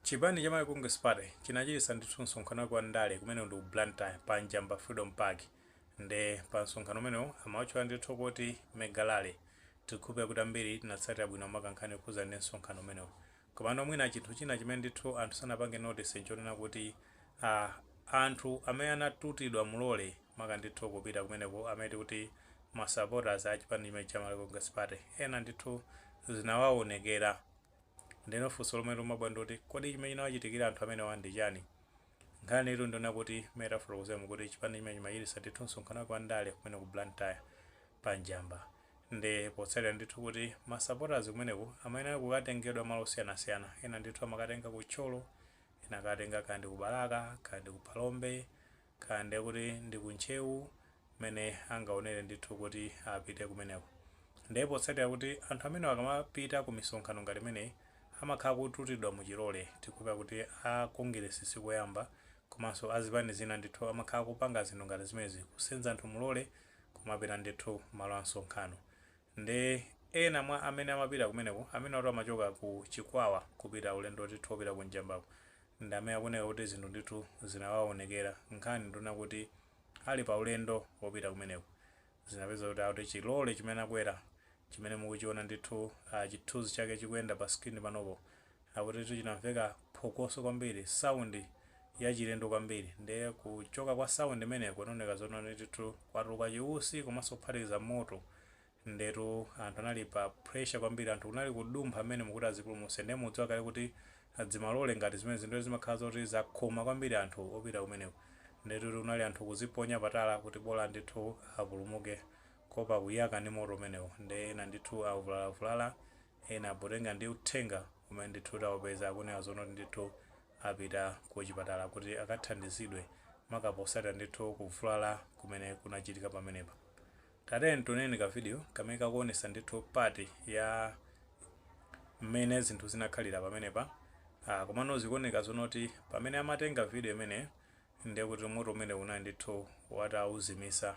Chipani cha Malawi Congress Party chinachititsa ndithu msonkhano wake wa ndale kumene ndi ku Blantyre pa Njamba Freedom Park nde pa msonkhano umenewu amautchula ndithu kuti Mega Rally. Tikukhulupira kuti ambiri tinatsatira bwino maka nkhani yokhudza ndi msonkhano umenewu. Komano mwina chinthu china chimene ndithu anthu sanapange notice nchonena kuti. a anthu amene anatutidwa mulole maka ndithu kupita kumeneko amene tikuti ma supporters a chipani chimenechi cha Malawi Congress Party ena ndithu zinawaonekera ndeno funso lomwe limabwera ndiloti kodi chimene chinawachitikira anthu amenewa ndi chani? Nkhanitu ndiyonena kuti mmene tafotokozeramu kuti chipani chimenechi chimachititsa ndithu msonkhano wake wa ndale kumene ku Blantyre pa Njamba nde potsatira ndithu kuti ma supporters kumeneko amayenera kukatengedwa malo osiyanasiyana ena ndithu amakatenga ku Thyolo ena akatenga kaya ndi ku Balaka kaya ndi ku Phalombe kaya ndi kuti ndi ku Ntcheu kumene angaonere ndithu kuti apite kumeneko. Ndiye potsatira kuti anthu amenewa akamapita ku misonkhano ngati imeneyi amakhala akututidwa mu chilole, tikukhulupirira kuti a Kongeresi si koyamba komanso a zipani zina ndithu amakhala akupanga zinthu ngati zimenezi, kusenza anthu mulole kumapita ndithu malo a msonkhano. Nde ena mwa amene amapita kumeneko, amenewatu amachoka ku Chikwawa kupita ulendo ndithu opita ku Njambako, ndamene akuoneka kuti zinthu ndithu zinawaonekera nkhani ndi yonena kuti ali pa ulendo opita kumeneko zinapezeka kuti akuti chi lorry chimene anakwera chimene mukuchiona ndithu chithunzi chake chikuyenda pa screen panopo akutitu chinamveka phokoso kwambiri sound yachilendo kwambiri nde kuchoka kwa sound imeneko kunaoneka zoona ndithu kwatuluka chiusi komanso kuphatikiza moto ndetu anthu anali pa pressure kwambiri anthu kunali kudumpha mmenemu kuti azipulumuse nde mudziwa kale kuti dzimalole ngati zimenezi nde zimakhala zoti zakhoma kwambiri anthu opita kumeneko. Ndetu kunali anthu kuziponya pa tala kuti bola ndithu apulumuke kuopa kuyaka ndi moto umenewo nde ena ndithu avulalavulala ena potenga ndi uthenga umene ndithu taupeza akunena zonena kuti ndithu apita ku chipatala kuti akathandizidwe maka potsatira ndithu kuvulala kumene kunachitika pamenepa. Tatiyeni tioneko ka video kamene kakuonesa ndithu part ya mmene zinthu zinakhalira pamenepa ah, komano zikuoneka zonena kuti pamene amatenga video imeneyo ndiye kuti moto umenewu anali ndithu atauzimitsa.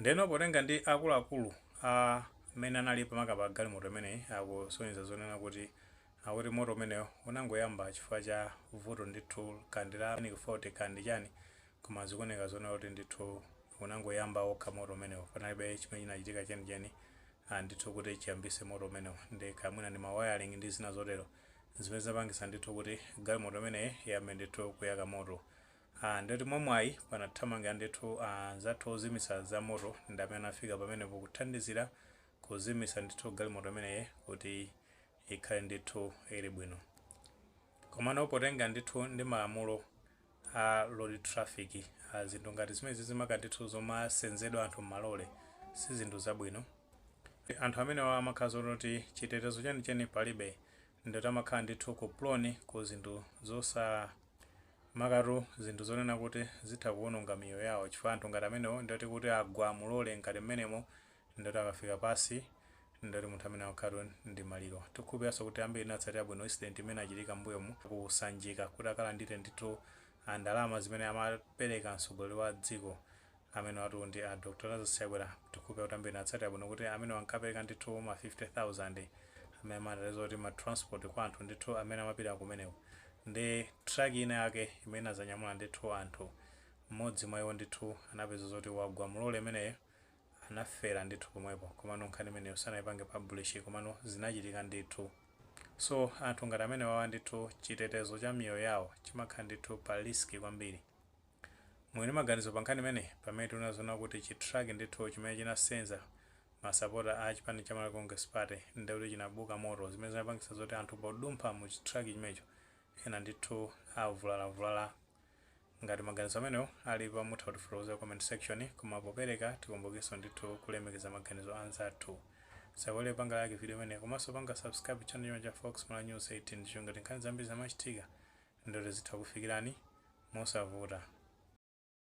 Ndeno potenga ndi akuluakulu amene anali pa maka pa galimoto imeneyi akusonyeza zonena kuti akuti moto umenewo unangoyamba chifukwa cha vuto ndithu kaya ndi la mechanical fault kaya ndi chani koma zikuoneka zonena kuti ndithu unangoyamba okha moto umenewo panalibe chimene chinachitika chenicheni a ndithu kuti chiyambise moto umenewo nde kaya mwina ndi ma wiring ndi zina zotero zimene zinapangisa ndithu kuti galimoto imeneyi iyambe ndithu kuyaka moto Aaa ndeti mwamwayi panathamanga ndithu anzathu ozimitsa za moto ndi amene anafika pamenepo kuthandizira kuzimitsa ndithu galimoto imeneyi kuti ikhale ndithu ili bwino. Komano potengera ndithu ndi malamulo a road traffic a zinthu ngati zimenezizi maka ndithu zomasenzedwa anthu m'malole si zinthu zabwino. Anthu amenewa amakhala zoona kuti chitetezo chenicheni palibe ndikuti amakhala ndithu prone ku zinthu zosa. makatu zinthu zonena kuti zitha kuononga miyoyo yawo chifukwa anthu ngati amenewo ndioti kuti agwa mu lole ngati mmenemo ndioti akafika pansi ndioti munthu amene amakhalatu ndi maliro. Tikukhulupiriranso kuti ambiri tinatsatira bwino incident imene inachitika mmbuyomu ku Sanjika kuti akalandire ndithu ndalama zimene amapereka mtsogoleri wa dziko Amenewatu ndi a Dr Lazarus Chakwera tikhulupirira kuti ambiri tinatsatira bwino kuti amenewa ankapereka ndithu ma 50,000 amene amati zoti ma transport kwa anthu ndithu amene amapita kumeneko nde truck ina yake imene inazanyamula ndithu anthu mmodzi mwa iwo ndithu anapeza zoti wagwa mu lole imeneyo anafera ndithu pomwepo komano nkhani imeneyo sanaipange publish komano zinachitika ndithu so anthu ngati amenewawa ndithu chitetezo cha miyoyo yawo chimakhala ndithu pa risk kwambiri. Muli ndi maganizo pa nkhani imeneyi? Pamene tinaona zoona kuti chi truck ndithu chimene chinasenza ma sapota a chipani cha Malawi Congress Party nde kuti chinabuka moto zimene zinapangitsa zoti anthu podumpha mu chi truck chimenecho ena ndithu avulalavulala. Ngati maganizo amenewo alipo mutha kutifotokozera ku comment section koma popereka tikumbukenso ndithu kulemekeza maganizo a anzathu. Tisayiwale kupanga like video imeneyi komanso kupanga subscribe channel chino cha Fox Malawi News 18 ndicholinga choti nkhani zambiri zikamachitika ndioti zitha kukufikirani mosavuta.